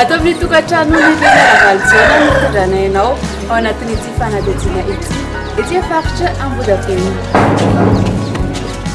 Ato amin'ny tokantrano ny Ravalojana no fitondrana ianao ao anatin'ity fanadihadiana ity ety faritra Ambohidratrimo.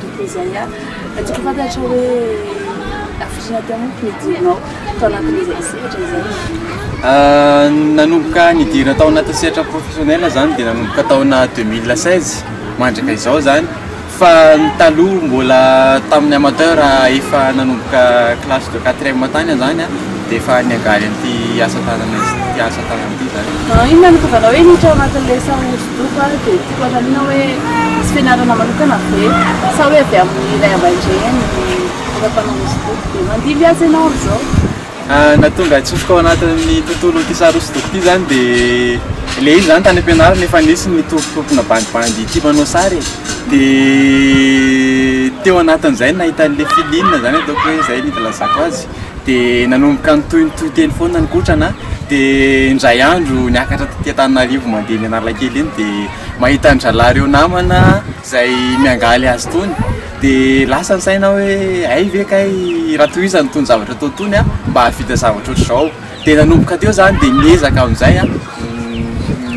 Tokony izay an! Fa tokony fantatra hoe hafiriana teo manko ny hidiranao tao anatin'izay sehatra izay. Nanomboka nidirana tao anatin'ny sehatra professionnel izany dia nanomboka taona 2016 mandraka izao izany fa ny taloha mbola tamin'ny amateur efa nanomboka classe de quatrième tany izany an dia efa niangaly an'ity asa tanana ity asa tanana ity izany. Inona no tonga anao hoe hiditra ao anatin'ilay sahona? Loko a, dia tiako anontaniana hoe misy fianarana manokana ve sa hoe avy amin'ny ray aman-dreny efa mpanao hosodoko dia mandimby azy ianao amin'izao? Na tonga atsofoka ao anatin'ny tontolon'ity sary hosodoko ity izany dia ilay izy izany tany am-pianarana efa nisy nitompitompina bandibandy tia manao sary e, dia teo anatin'izay no nahitany ilay filiana izany ataoko hoe izay no ilazako azy. dia nanomboka nitohy nitohy teny foana ny kotrana dia indray andro niakatra taty Antananarivo mandeha eny Analakely eny dia mahita ny zalahy ireo namana izay miangaly azy itony dia lasa ny saina hoe hay ve kay raha tohizany itony zavatra atao itony mba hahavita zavatra ohatr'izao. Dia nanomboka teo izany dia niezaka amin'izay an,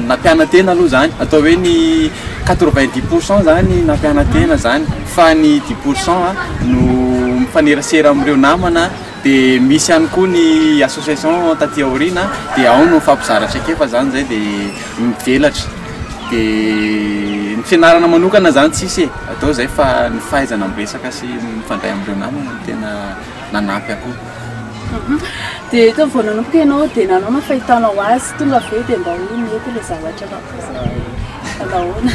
nampiana-tena aloha izany, atao hoe ny quatre vingt dix pour cent izany nampiana-tena izany fa ny dix pour cent no mifanerasera amin'ireo namana dia misy ihany koa ny association taty aoriana dia ao no mifampizara traikefa izany izay dia mivelatra dia ny fianarana manokana izany tsisy e, atao izay fa ny fahaizana miresaka sy mifandray amin'ireo namana no tena. nanampy akoho. Dia eto vao nanomboka ianao dia nanao ny fahitanao azy, tonga avy eo dia mba hoe mety ilay zavatra na kosa hoe nahoana?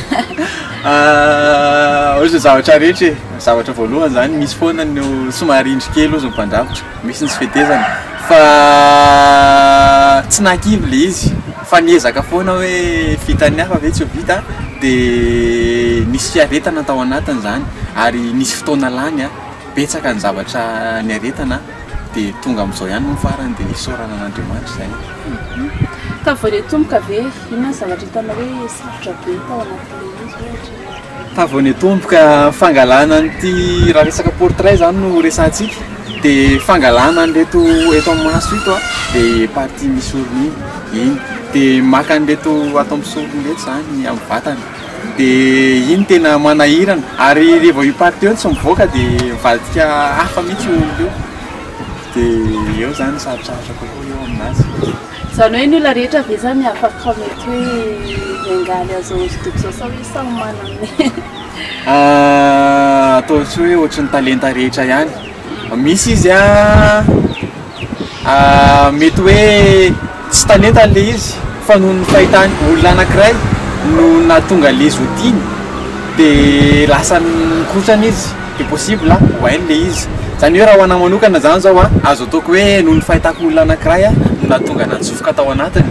Ah, ohatry ny zavatra rehetra e, ny zavatra voalohany izany misy foana ny somary indry kely ozy ny mpandrafitra, misy ny tsy fetezana fa tsy nahakivy ilay izy fa niezaka foana hoe vitan'ny hafa ve tsy ho vita dia nisy fiaretana tao anatin'izany ary nisy fotoana lany an! Betsaka ny zavatra niaretana dia tonga amin'izao ihany moa farany dia isaorana an'Andriamanitra izay. Tamin'ny vao niatomboka ve, inona ny zavatra hitanao hoe sarotra be tao anatin'ilay izy ohatra? Tamin'ny vao niatomboka fangalana an'ity, raha resaka portrait izany no resahantsika, dia fangalana an'ireto eto amin'ny maso ito a, ilay partie misy orona iny, iny dia maka an'ireto ato amin'ny sorony ireto izany amin'ny vatana. Dia iny tena manahirana, ary rehefa io partie io tsy mivoaka dia mivadika hafa mihintsy io olona io, dia eo izany ny sarotrarotra kokoa eo amin'azy. Izany hoe ny olona rehetra ve izany afaka mety hoe miangaly an'izao hosodoko izao sa hoe samy manana ny. Ataontsika hoe ohatry ny talenta rehetra ihany, misy izy an. Mety hoe tsy talentany ilay izy fa noho ny fahitany olona anankiray no nahatonga an'ilay izy ho tiany dia lasa nikotrana izy dia possible ho hainy ilay izy. Izany hoe raha ho anahy manokana izany izao an, azo ataoko hoe noho ny fahitako olona anankiray an no nahatonga anah nitsofoka tao anatiny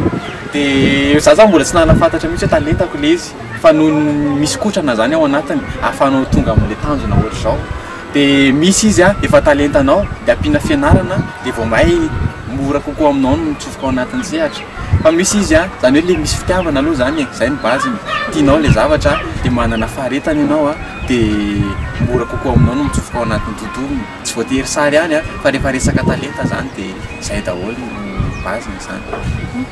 dia izaho izany mbola tsy nahafantatra mihintsy hoe talentako ilay izy fa noho ny misy kotrana izany ao anatiny ahafahanao tonga amin'ilay tanjona ohatr'izao. de misy izy a efa talentanao de ampiana fianarana de vao may mora kokoa aminao ny mitsofoka ao anatin'ny sehatra fa misy izy a zany hoe le misy fitiavana aloha zany e zay ny base ny tianao le zavatra de manana faharetana ianao a de mora kokoa aminao ny mitsofoka ao anatin'ny tontolony tsy voatery sary ihany a fa rehefa resaka talenta zany de zay daholo no base ny zany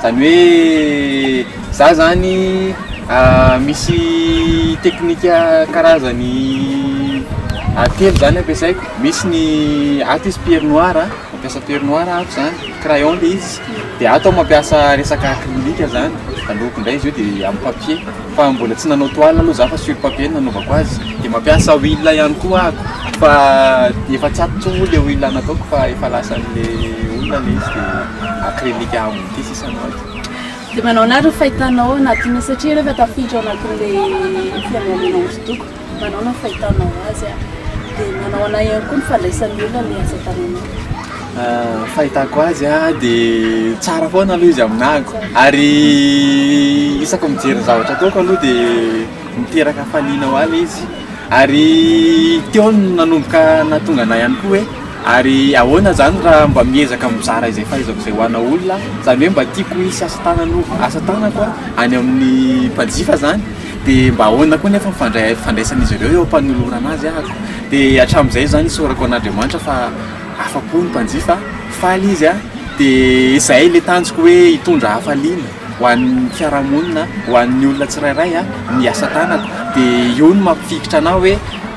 Izany hoe za zany misy teknika karazany telo zany ampiasaiko, misy ny ato izy pierre noir a, mampiasa pierre noir aho ato zany, crayon le izy, de ato aho mampiasa resaka acrylique zany, de loko ndray izy io de amin'ny papier. fa mbola tsy nanao toile aloha za fa sur papier no nanaovako azy dia mampiasa huile ihany koa ako fa efa tsy ato tsony le huile nataoko fa efa lasan'le olona le izy dia acrylique ambony ity sisa no ato dia manao anareo fahitanao anatin'io satria rehefa tafiditra ao anatin'le fianarana hosodoko Manao ny fahitanao azy a. Dia manao anay ihany koa ny fandraisan'ny olona ny asa tananao. Fahitako azy a, dia tsara foana aloha izy amin'ako. Ary isaka mijery ny zavatra ataoko aloha dia miteraka hafaliana ho ahy ilay izy. Ary teo aho no nanomboka nahatonga anay ihany koa hoe ary ahoana izany raha mba miezaka mizara izay fahaizako izay ho an'olona aho. Izany hoe mba tiako hisy asa tananao, asa tanako a, any amin'ny mpanjifa izany. Dia mba ahoana koa nefa ny fandraisan'izy ireo eo am-panolorana azy ahako? Dia hatramin'izay izany isaorako an'Andriamanitra fa afa-po ny mpanjifa, faly izy an! Dia izay ilay tanjoko hoe hitondra hafaliana ho an'ny fiarahamonina, ho an'ny olona tsirairay ny asa tanako. Dia io no mampifikitra anà hoe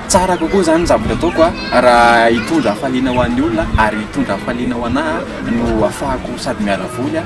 tsara kokoa izany ny zavatra ataoko an! Raha hitondra hafaliana ho an'ny olona ary hitondra hafaliana ho anà no ahafahako sady miala voly an!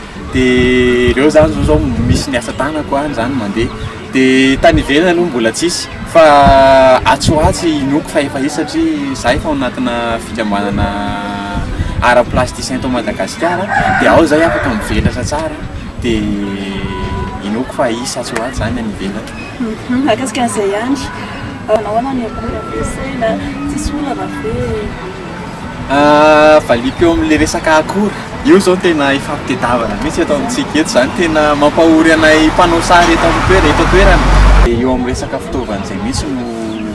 dia ireo zany zao zao misy ny asa tanako any zany mandeha dia tany ivelany aloha mbola tsisy fa atsy ho atsy inoako fa efa hisy satria za efa ao anatina fikambanana art plasticien eto Madagasikara dia ao zay afaka mivelatra tsara dia inoako fa hisy atsy ho atsy zany any ivelany. Mahakasika an'izay ihany, manao ahoana ny akora ampiasaina, tsisy olana ve? Valiako eo amin'ilay resaka akora, io izao no tena ifampitadiavana mihitsy eto amintsika eto, izany tena mampahory anay mpanao sary eto an-toerana, eto an-toerana dia eo amin'ny resaka fitaovana izay mihitsy no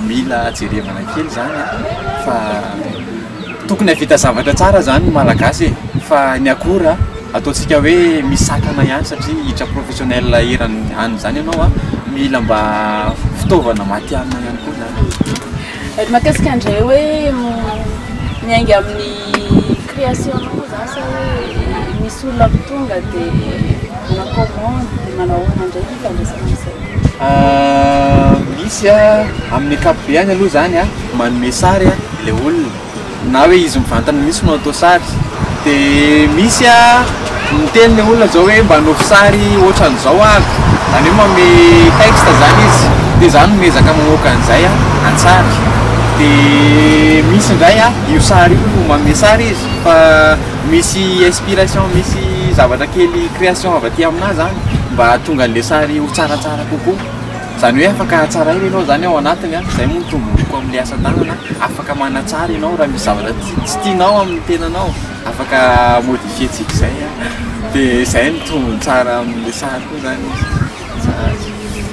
mila jerevana kely izany an, fa tokony hahavita zavatra tsara izany ny Malagasy e, fa ny akora ataontsika hoe misakana ihany satria hiditra professionnel eran'ny any izany ianao an, mila mba fitaovana matihanina ihany koa izany e. Eto matetika ndray hoe miainga amin'ny création nao za sa hoe misy olona tonga de manao commande de manao ahoana ndray ny ifandraisana amin'izay? Misy a, amin'ny ankapobeny aloha zany a manome sary ilay olona. na hoe izy mivantana mihitsy no atao sary dia misy a miteny le olona zao hoe mba anaovy sary ohatran'izao aho zany hoe manome texte zany izy dia za no miezaka mamoaka an'izay a an-tsary dia misy indray a io sary io no manome sary izy fa misy inspiration misy zavatra kely création avy aty aminah zany mba hahatonga an'le sary ho tsaratsara kokoa Izany hoe afaka hatsaraina ianao izany ao anatiny an, izay moa no tombontsoa amin'ilay asa tanana an, afaka manatsara ianao raha misy zavatra tsy tianao amin'ny tenanao, afaka modifier-tsika izay an, dia izay no tombony tsara amin'ilay sary koa izany izy, tsara azy.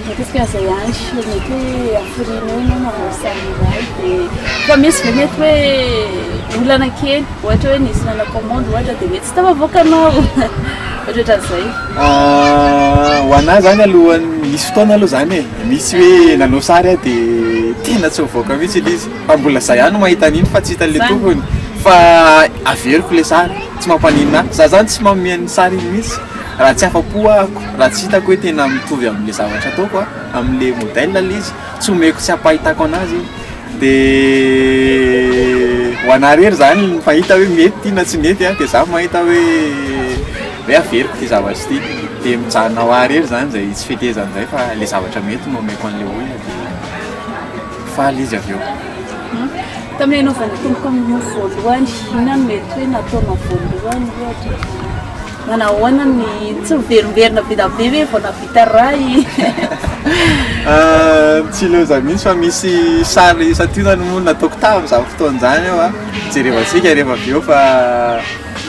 Matetika aza ihany sur mety hoe hafiriana eo ianao manao sary iray dia fa misy ve mety hoe olana kely ohatra hoe nisy nanao commande ohatra dia mety tsy tafavoaka anao. Otratran'izay. Ho anah zany aloha misy fotoana aloha zany e, misy hoe nanao sary aho dia tena tsy mivoaka mihintsy ilay izy fa mbola zah ihany no mahita an'iny fa tsy hitan'ilay tompony fa averiko ilay sary, tsy mampaninona ahy, zah zany tsy manome an'iny sary iny mihintsy raha tsy afa-po ahako, raha tsy hitako hoe tena mitovy amin'ilay zavatra ataoko, amin'ilay modèle ilay izy, tsy omeko tsy ampahitako an'azy iny. de ho anah irery zany ny fahita hoe mety ity na tsy mety an, de za mahita hoe hoe averiko ity zavatra ity, de mijanona ho ahy irery zany zay tsy fetezany zay fa le zavatra mety no omeko an'le olona de faly izy avy eo. Tamin'ny hanaovan'ny Tompo kominio voalohany, inona no mety hoe nataonao voalohany ohatra? Manahoana ny tsy miverimberina be da be ve vao nahavita ray? Tsy leo izany mihitsy fa misy sary santionany moa nataoko tamin'izany fotoana izany eo an, jerevantsika rehefa avy eo fa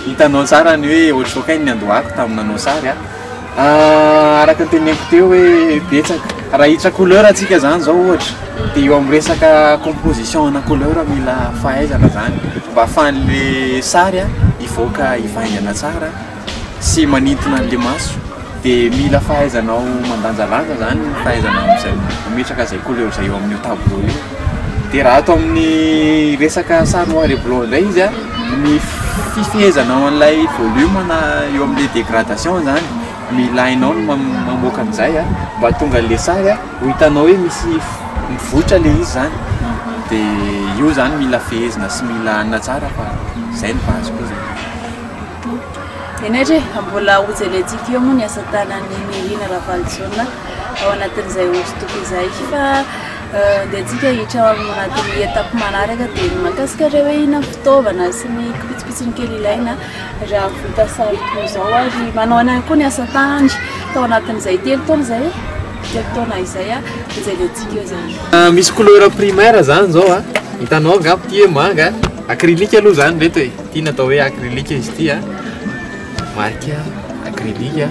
hitanao tsara ny hoe ohatrohatran'ny niandohako tamin'ny nanao sary an. Araka ny teneniko teo hoe betsaka. Raha hiditra couleur antsika zany zao ohatra dia eo amin'ny resaka composition ana couleur mila fahaizana zany mba ahafahan'le sary a hivoaka hivaingana tsara sy manintona an'le maso dia mila fahaizanao mandanjalanja zany ny fahaizanao amin'izay mametraka izay couleur izay eo amin'io tableau io dia raha ato amin'ny resaka sary noir et blanc indray izy a ny fifehezanao an'ilay volume na eo amin'le dégradation zany Mila enao ny mamoaka an'izay an, mba tonga an'ilay sary an, ho hitanao hoe misy mivoitra ilay izy zany, dia io zany mila fehezina sy mila anona tsara fa zay no base koa zany. Henaitre e, mbola ho jerentsika eo moa ny asa tanan'i Nirina Ravalojaona ao anatin'izay hosodoko izay fa andehantsika hiditra ao anatin'ny etapy manaraka dia ny mahakasika ireo hoe inona ny fitaovana sy ny pitsopitsony kely ilaina. Raha vita sary toy izao ary manao any ihany koa ny asa tanany tao anatin'izay telo taona izay telo taona izay a dia izay dia tsika izany. Ah, misy couleur primaire izany izao a. Hitanao angamba ity hoe manga, acrylique aloha izany ireto e. Ity natao hoe acrylique izy ity a. Marika acrylique a.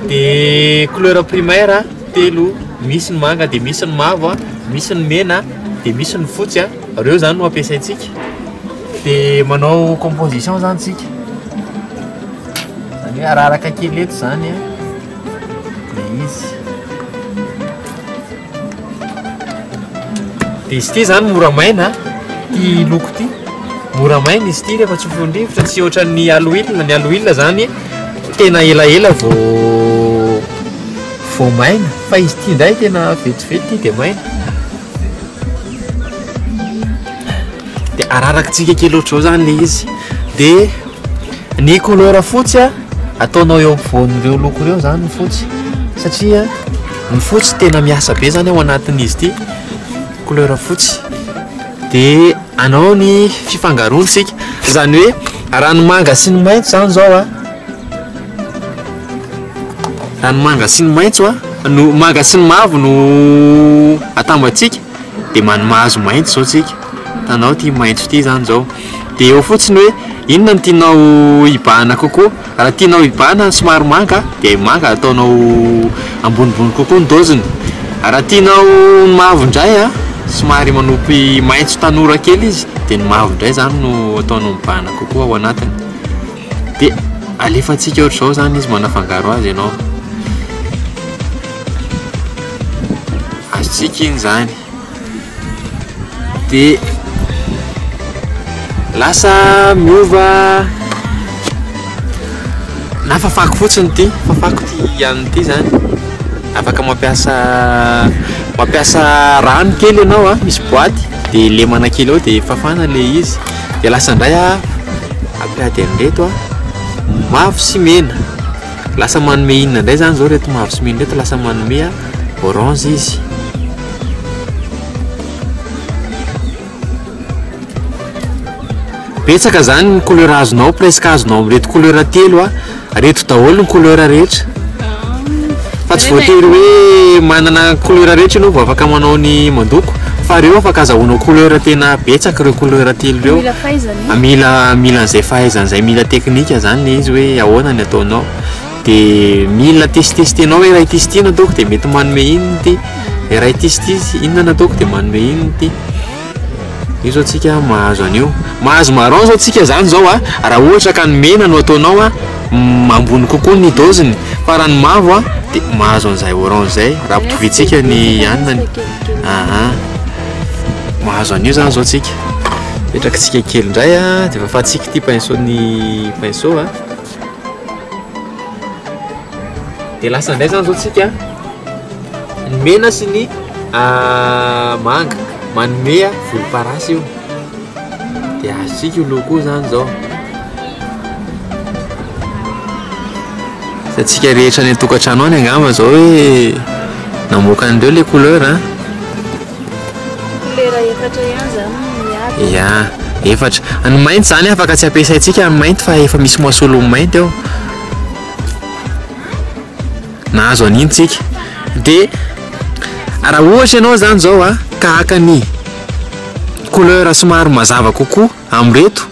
Dia couleur primaire telo, misy ny manga dia misy ny mavo a, misy ny mena dia misy ny fotsy a. Reo zany no ampiasaintsika. Dia manao composition zany tsika. Zany hoe araraka kely eto zany an. Dia izy. Dia izy ity zany mora maina, ity loko ity. Mora maina izy ity rehefa tsofin'ny rivotra, tsy ohatran'ny aloilina. Ny aloilina zany tena elaela vao vao maina. Fa izy ity indray tena vetivety dia maina. dia ararakitsika kely ohatr'izao zany le izy dia ny couleur fotsy a ataonao eo ampovoan'ireo loko ireo zany ny fotsy satria ny fotsy tena miasa be zany ao anatin'izy ity couleur fotsy dia anao ny fifangaroantsika izany hoe raha ny manga sy ny mainty zany zao a Raha ny manga sy ny maitso a, no manga sy ny mavo no atambatsika dia man- mahazo maitso izao tsika. Hitanao ity maitso ity izany izao. Dia eo fotsiny hoe inona no tianao hibahana kokoa. Raha tianao hibahana ny somary manga dia manga ataonao ambonimbony kokoa ny doziny. Raha tianao ny mavo indray a, somary manopy maitso tanora kely izy dia ny mavo indray izany no ataonao mibahana kokoa ao anatiny. Dia alefantsika ohatr'izao izany izy manafangaro azy ianao. Azontsika iny izany. Dia lasa miova na fafako fotsiny ity fafako ity an'ny ity izany afaka mampiasa mampiasa rano kely ianao a misy boaty dia lemana kely ao dia fafana ilay izy Dia lasa indray aho hampiady an'ireto mavo sy mena. Lasa manome inona indray izany izao ireto mavo sy mena ireto? Lasa manome orange izy. Betsaka izany ny couleur azonao, presque azonao amin'ireto couleur telo. Reto daholo ny couleur rehetra. Fa tsy voatery hoe manana couleur rehetra ianao vao afaka manao ny mandoko fa reo afaka azahoanao couleur tena betsaka ireo couleur telo ireo. Mila fahaizana. Mila mila an'izay fahaizana izay mila teknika izany ilay izy hoe ahoana ny ataonao. Dia mila tesitesitenao hoe raha ity sy ity no ataoko dia mety manome inona ity, dia raha ity sy ity inona no ataoko dia manome inona ity. Io zao tsika mahazo an'io. Mahazo marron zao tsika zany zao a, raha ohatra ka ny mena no ataonao a, ambony kokoa ny doziny, fa raha ny mavo a de mahazo an'izay orange zay raha ampitovitsika ny hanina, aha, mahazo an'io zany zao tsika. Apetrakitsika kely ndray a, de efa afatsika ity pinceau ny pinceau a. dia lasa indray zany zao tsika ny mena sy ny ah, manga manomea volomparasy io dia azontsika io loco zany zao satsika rehetra any an-tokantrano any angamba zao hoe namoaka an'ireo le couleur a ah. Kolera efatra ihany zany no miady. Ia, efatra. Ny mainty zany afaka tsy ampiasaintsika ny mainty fa efa misy masolon'ny mainty ao. Nahazo an'iny tsika. Dia raha ohatra ianao zany zao a, ka haka ny couleur somary mazava kokoa amin'ireto.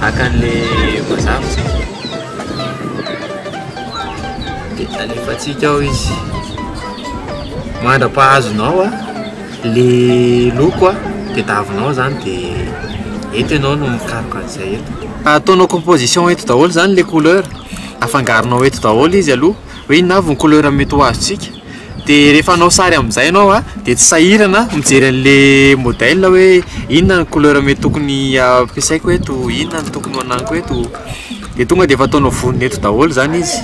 Haka an'le vazaha hoy isika. Dia alefantsika ao izy. Mandra-pahazonao le loko tadiavinao zany dia eto ianao no mikaroka an'izay eto. Ataonao composition eto daholo zany le couleur, afangaronao eto daholo izy aloha. hoe inona avy ny couleur mety ho azontsika dia rehefa hanao sary amin'izay ianao a dia tsy sahirana mijery an'le modèle hoe inona ny couleur mety tokony ampiasaiko eto inona no tokony hananiko eto dia tonga dia efa ataonao vonona eto daholo izany izy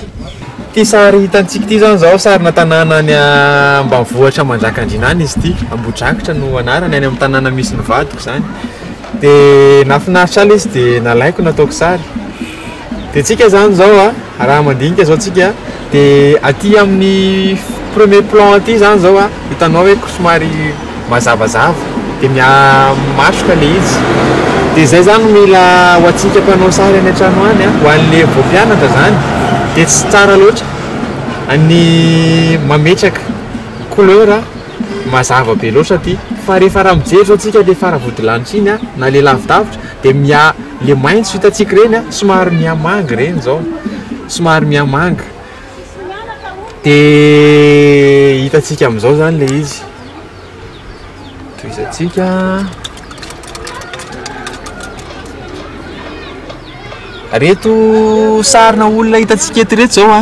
ity sary hitantsika ity izany izao sarina tanàna any ambanivohitra manjakandriana any izy ity ambohidrakitra no anarany any amin'ny tanàna misy ny vadiko izany dia nahafinaritra ahy ilay izy dia nalaiko nataoko sary Dia tsika zany zao a, raha mandinika zao tsika dia aty amin'ny premier plan aty zany zao a, hitanao hoe somary mazavazava dia miha-matroka le izy, dia zay zany mila ho antsika mpanao sary any an-trano any a, ho anle vao mpianatra zany dia tsy tsara loatra ny mametraka couleur. Mazava be loatra ity fa rehefa raha mijery zao tsika le fara vodilanitra iny a na le lavidavitra de miha le maintso hitatsika reny a somary miha manga reny zao somary miha manga de hitatsika amizao zany le izy tohizatsika reto sarina olona hitatsika eto reto zao a.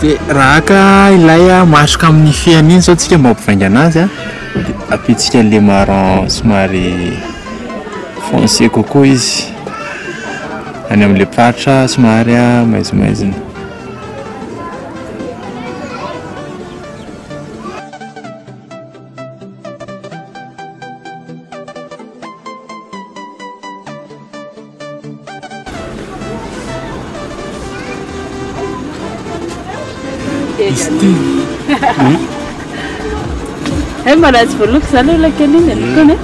Dia raha haka ilay matroka amin'ny fihany iny izao tsika mba hampivaingana azy an, dia ampiantsika an'ilay marron somary foncé kokoa izy, any amin'ilay faritra somary maizimaizina. Hey, mbana tsy voaloko izany io lakeliny e, lokony e.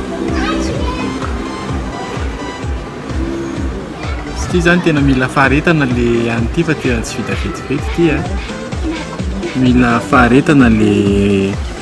Tsy tia zany tena mila faharetana le any ity fa tena tsy vita vetivety ity a. Mila faharetana le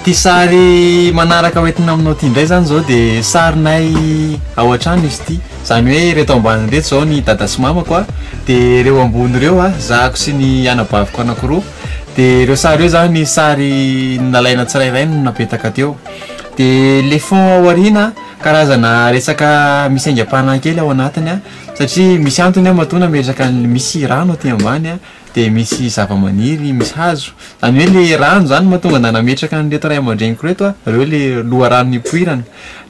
Ity sary manaraka hoentina aminao ity indray izany izao dia sarinay ao an-trano izy ity. Izany hoe ireto ambany ireto izao ny dada sy mamako a, dia ireo ambony ireo zahako sy ny anabaviko anankiroa. Dia ireo sary ireo izany sary nalaina tsirairay no napetaka teo. Dia ilay fond ao aoriana karazana resaka misy aingam-panahy kely ao anatiny satria misy antony aho matoa nametraka ny, misy rano aty ambany a. dia misy zavamaniry, misy hazo. Izany hoe ilay rano izany no mahatonga anà nametraka an'ireto ray aman-dreniko ireto aho, ireo ilay loharano nipoirana.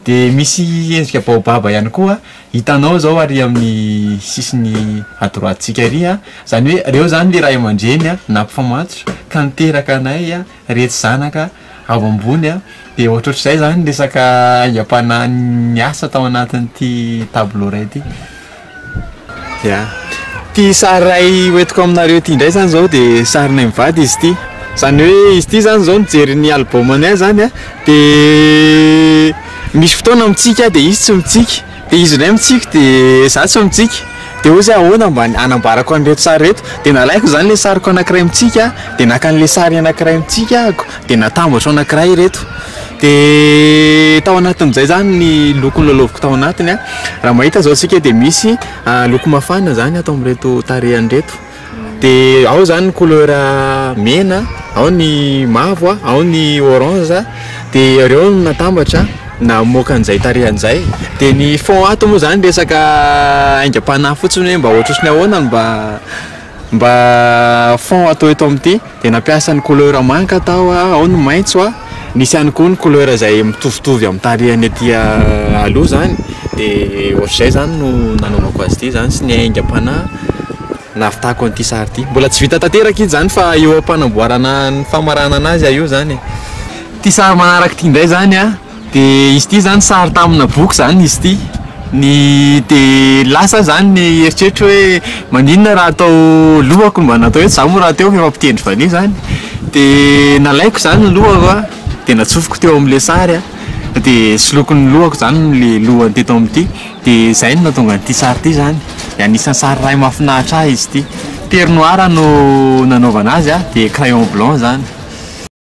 Dia misy endrika baobaba ihany koa hitanao izao ary amin'ny sisiny à droite-ntsika ary an, izany hoe ireo izany ilay ray aman-dreny nampifamatotra ka niteraka anay Retsy zanaka ao ambony a, dia ohatrohatr'izay izany ny resaka aingam-panahy niasa tao anatin'ity tableau iray ity. Ya. Ity sary iray hoentiko aminareo ity indray izany izao dia sarinay mivady izy ity. Izany hoe izy ity izany izao nijery ny album-ny ahy izany dia misy fotoana mitsiky aho dia izy tsy mitsiky. Dia izy indray mitsiky dia za tsy mitsiky, dia ozy ahoana mba hanambarako an'ireto sary ireto, dia nalaiko izany ilay sariko anakiray mitsiky aho, dia naka an'ilay sary anakiray mitsiky ahako, dia natambatro anakiray ireto, dia tao anatin'izay izany ny loko nilalaoviko tao anatiny an, raha mahita izao isika dia misy loko mafana izany ato amin'ireto tarehiny ireto. de ao zany ny couleur mena, ao ny mavo, ao ny orange, de reo no natambatra namoaka an'izay tarehiny izay, de ny fond ato moa zany resaka aingam-panahy fotsiny hoe mba ohatrohatry ny ahoana no mba mba fond atao eto amin'ity. Dia nampiasa ny couleur manga taho aho, ao ny maitso a, nisy ihany koa ny couleur izay mitovitovy amin'ny tarehiny aty aloha izany, dia ohatr'izay izany no nanaovako azy ity izany sy ny aingam-panahy nahavitako an'ity sary ity. Mbola tsy vita tanteraka izy izany fa eo am-panamboarana ny famaranana azy aho io izany e. Ity sary manaraka ity indray izany an, Dia izy ity izany sary tamina boky izany izy ity. Ny dia lasa aho izany ny eritreritro hoe maninona raha tao lohako mba natao hoe za moa rahateo efa mpitendry valiha izany? Dia nalaiko izany ny lohako an, dia natsofoko teo amin'ilay sary an, dia soloiko ny lohako izany ilay lohany teto amin'ity, dia izay no nahatonga an'ity sary ity izany. Dia anisan'ny sary iray mahafinaritra ahy izy ity. Pernoir no nanaovana azy an, dia crayon blanc izany.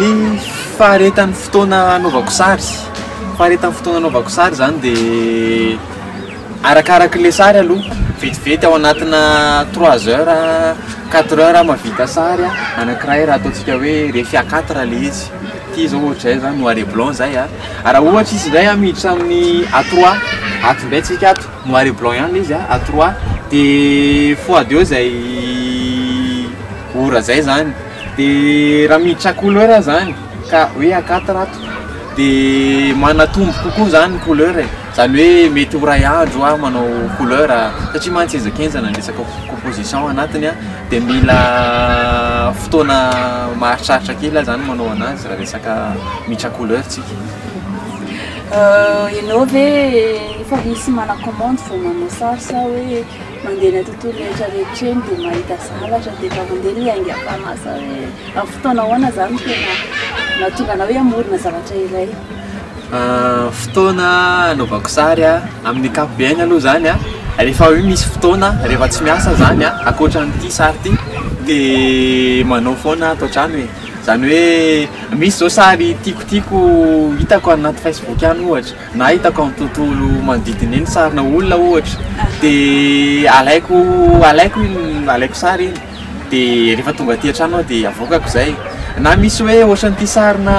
Ny faharetan'ny fotoana anaovako sary, faharetan'ny fotoana anaovako sary zany de arakaraky le sary aloha, vetivety ao anatina trois heures, quatre heures aho mahavita sary a, anakiray raha ataontsika hoe refy à quatre le izy, ty zao ohatra zay zany noir et blanc zay a, raha ohatra izy ndray a miditra amin'ny à trois, ato ndray tsika ato noir et blanc ihany le izy a, à trois de fois deux zay. ora zay zany de raha miditra couleur zany ka hoe akata ato de manatombo kokoa zany couleur e zany hoe mety ho ray andro aho manao couleur satria mantsy henjakenjana ny resaka composition anatiny an de mila fotoana maharitraritra kely aho zany manao anazy raha resaka miditra couleur tsika ianao ve efa misy mana commande vao manao sary sa hoe Mandeha eny an-tontolo rehetra rehetra eny dia mahita zavatra dia efa mandeha ny aingam-panahy hoe amin'ny fotoana ahoana izany no tena mahatonga anao hoe hamorona zavatra iray. Fotoana anaovako sary amin'ny ankapobeny aloha izany an, rehefa hoe misy fotoana rehefa tsy miasa izany an, ankoatra an'ity sary ity dia manao foana ato an-trano e, izany hoe misy izao sary tiako tiako hitako any anaty facebook any ohatra Nahitako amin'ny tontolo manodidina eny sarina olona ohatra dia alaiko alaiko iny alaiko sary iny dia rehefa tonga aty an-trano aho dia avoakako izay na misy hoe ohatran'ity sarina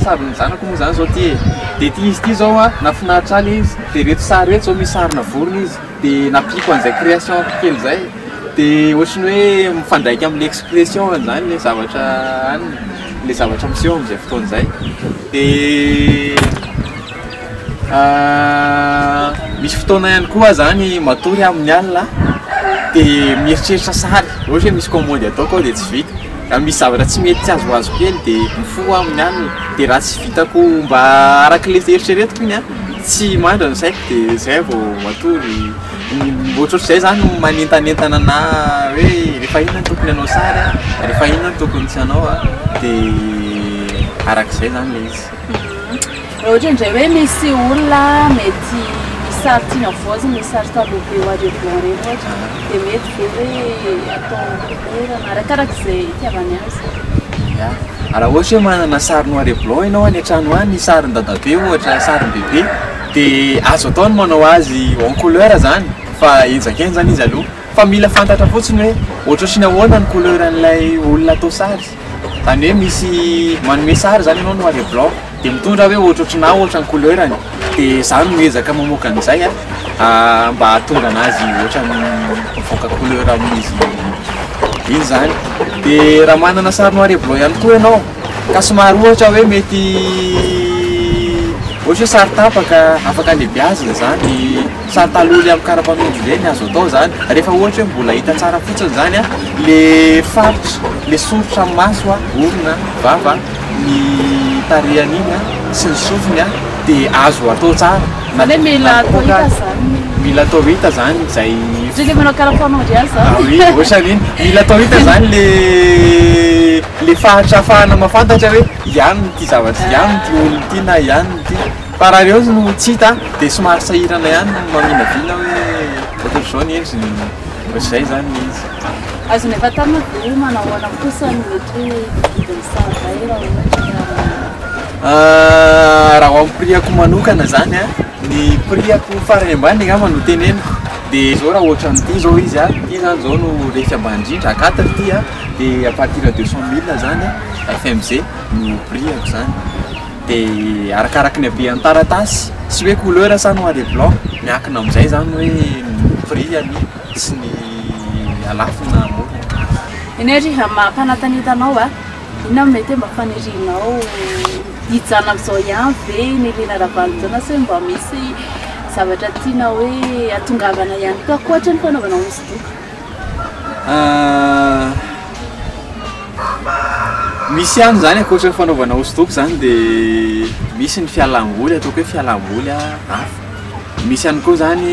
sarin'ny zanako moa izany izao ity e dia ity izy ity izao an nahafinaritra ahy ilay izy dia ireto sary ireto izao misy sarina vorona izy dia nampiako an'izay création-ko kely izay dia ohatran'ny hoe mifandraika amin'ny expression-ny izany ilay zavatra any ilay zavatra miseho amin'izay fotoana izay. Dia misy fotoana ihany koa aho zany matory amin'ny alina dia mieritreritra sary, ohatra hoe misy kaomandy ataoko ao dia tsy vita, na misy zavatra tsy mety tsy azoazoko kely dia mifoha aho amin'ny alina, dia raha tsy vitako mba arak'ilay eritreretiko iny an, tsy mandry ny saiko dia zay vao matory. Ohatrohatr'izay zany no manentanentana na hoe rehefa inona no tokony hanao sary a, rehefa inona no tokony tsy hanao a, dia arak'izay zany ilay izy. Raha ohatra indray hoe misy olona mety misy sary tiany havaozina, misy sary tableau be noir et blanc ireny ohatra, dia mety ve hoe atao couleur na arakaraka izay itiavany azy? Ya, raha ohatra hoe manana sary noir et blanc ianao any an-trano any, sarin'i dadabe ohatra, sarin'i bebe, De azo atao ny manao azy en couleur zany fa henjakenjana izy aloha fa mila fantatra fotsiny hoe ohatrohatriny ahoana ny couleur an'ilay olona atao sary zany hoe misy manome sary zany ianao noir et blanc de mitondra hoe ohatrohatry na ohatra ny couleur-ny de za no miezaka mamoaka an'izay a mba hahatonga anazy ohatran'ny mivoaka couleur amin'izy iny zany de raha manana sary noir et blanc ihany koa ianao Ka somary ohatra hoe mety ohatra hoe sary tapaka afaka alebiazina zany sary taloha le am karapanondro ireny azo atao zany refa ohatra hoe mbola hita tsara fotsiny zany a le faritra le soritra am maso a orona vava ny tarehany iny a sy ny sofiny a de azo atao tsara na le mila atao hita zany ny mila atao hita zany zay le manao karapanondro ihany zany ohatra ny iny mila atao hita zany le le faritry afahana mafantatra hoe iany ity zavatra iany ity olona ity na iany ity fa raha reo no tsy hita de somary sahirana iany no maminavina hoe ohatry zao ny endriny ohatry zay zany ny izy azony efa tamy de manao ahoana kosa ny mety hoe hividy ny saha zay raha ohatry ka ah, raha ho prix ako manokana zany an ny prix ako farany ambany angamba no teneniko de zao raha ohatry ny ity zao izy an ity zany zao no resaky ambany indrindra a quatre ity an de à partir de deux cent mille zany FMG no prix-ako zany de arakaraky ny habean'ny taratasy sy hoe couleur sa noir et blanc miankina amin'izay zany hoe ny prix-ny sy ny halafiny na hamorony Eny ary raha mampanantanita anao a, inona no mety hoe mba fanirianao hijanona amin'izao ihany ve i Nelina Ravalojaona sa hoe mba misy zavatra tiana hoe hatongavana ihany koa ankoatra ny fanaovanao hosodoko? Misy ihany izany ankoatra ny fanaovana hosodoko izany dia misy ny fialamboly ataoko hoe fialamboly hafa. Misy ihany koa izany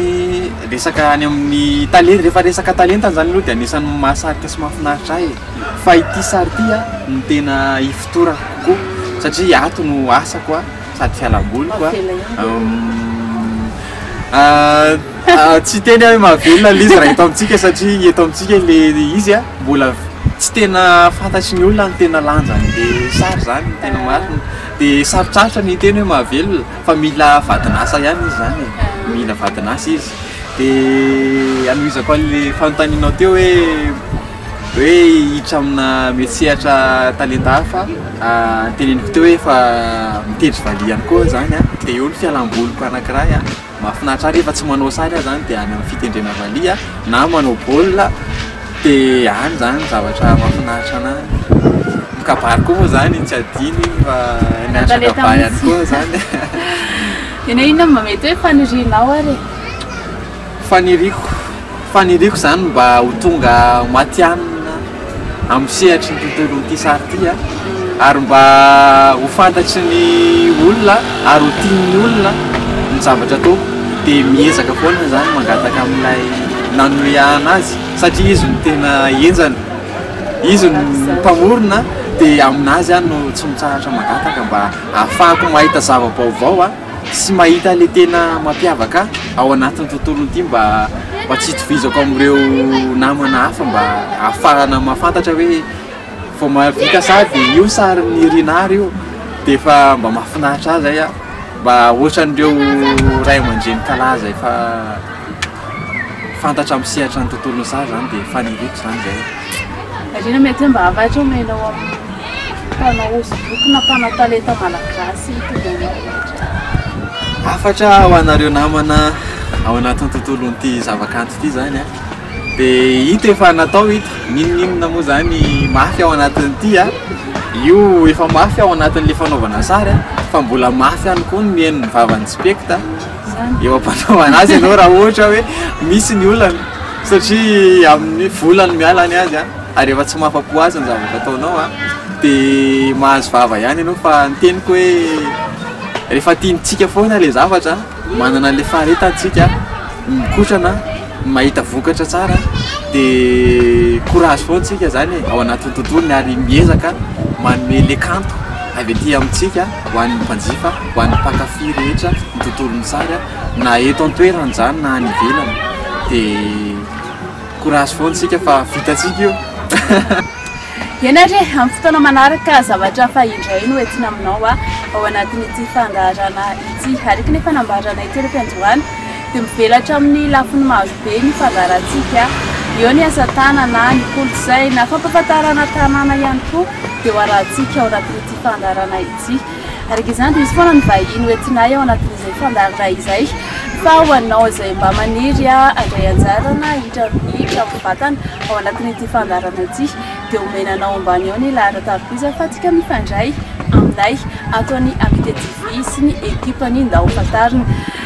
resaka any amin'ny tale- rehefa resaka talenta izany aloha dia anisan'ny mahasarika sy mahafinaritra ahy e. Fa ity sary ity no tena ifotorako kokoa satria ato no asako a. sady fialamboly koa tsy teny hoe mahavelona le izy raha eto amintsika satria eto amintsika le izy a mbola tsy tena fantatry ny olona ny tena lanjan'le sary zany ny tena marina de sarotsarotra ny hiteny hoe mahavelona fa mila vadin'asa ihany izy zany e mila vadin'asa izy de hanohizako an'le fanontanianao teo hoe hoe hiditra amina metsehatra talenta hafa ah, teneniko teo hoe fa mitendry valiha ihany koa aho zany ah. dia eo ny fialam-boliko anankiray ah. mahafinaritra ahy rehefa tsy manao sary aho zany dia any amin'ny fitendrena valiha ah, na manao baolina dia any zany ny zavatra mahafinaritra anahy mikabary koa moa zany tsy adino iny fa mianatra Talenta kabary ihany mihitsy. koa zany Inona inona no mba mety hoe fanirinao ary e? Faniriako faniriako izany mba ho tonga matihanina amin'ny sehatry ny tontolon'ity sary ity an, ary mba ho fantatry ny olona ary ho tian'ny olona ny zavatra ataoko dia miezaka foana izany mangataka amin'ilay nanome an azy satria izy no tena henjana, izy no mpamorona dia aminazy aho no tsy mitsahatra mangataka mba hahafahako mahita zava-baovao an. Tsy mahita ilay tena mampiavaka ahy ao anatin'ny tontolo ity mba mba tsy itovizako amin'ireo namana hafa mba ahafahana mahafantatra hoe vao mahavita sady io sarin'i Rinah io dia efa mba mahafinaritra ahy izay an! mba ohatran'ireo ray aman-dreny kalaza efa fantatra amin'ny sehatra ny tontolon'ny saha izany dia faniriako izany izay. Marina mety hoe mba hafatra omena ao amin'ny mpanao hosodoko na mpanao talenta malagasy mitondra anao ohatra. Hafatra ho anareo namana ao anatin'ny tontolon'ity zavakanto ity izany an. Dia hita efa natao hita, n'inon'inona moa izany mafy ao anatin'ity an. Io efa mafy ao anatin'ilay fanaovana sary fa mbola mafy ihany koa ny mihaino ny vavan'ny spekta. eo am-panaovana azy ianao raha ohatra hoe misy ny olana satria amin'ny vola no miala ny azy ary rehefa tsy mahafa-po azy ny zavatra ataonao dia mahazo vava ihany ianao fa ny teniko hoe rehefa tiantsika foana ilay zavatra manana an'ilay faharetantsika mikotrana mahita vokatra tsara de courage foana tsika zany e ao anatin'ny tontolony ary miezaka manome le kanto avy aty amintsika ho an'ny mpanjifa ho an'ny mpankafy rehetra ny tontolon'ny sary na eto an-toerana zany na any ivelany de courage foana tsika fa vitantsika io Ena re, amin'ny fotoana manaraka zavatra hafa indray no entina aminao ao anatin'ity fandaharana ity. Ary efa nambaranay teo ny fiandohana. Dia mivelatra amin'ny lafiny maro be ny fandaharantsika, eo ny asa tanana, ny kolontsaina, fampahafantarana tanàna ihany koa dia ho arahantsika ao anatin'ity fandaharana ity. Araka izany dia hisy foana ny vahiny ho entinay ao anatin'izay fandaharana izay fa ho anao izay mba maniry handray anjara na hiditra amin'ny Trano Batana ao anatin'ity fandaharana ity dia omena anao ambany ao ny laharan-tavy visa afahantsika mifandray aminay ato amin'ny Amitié TV sy ny ekipany Ndao Fantarina.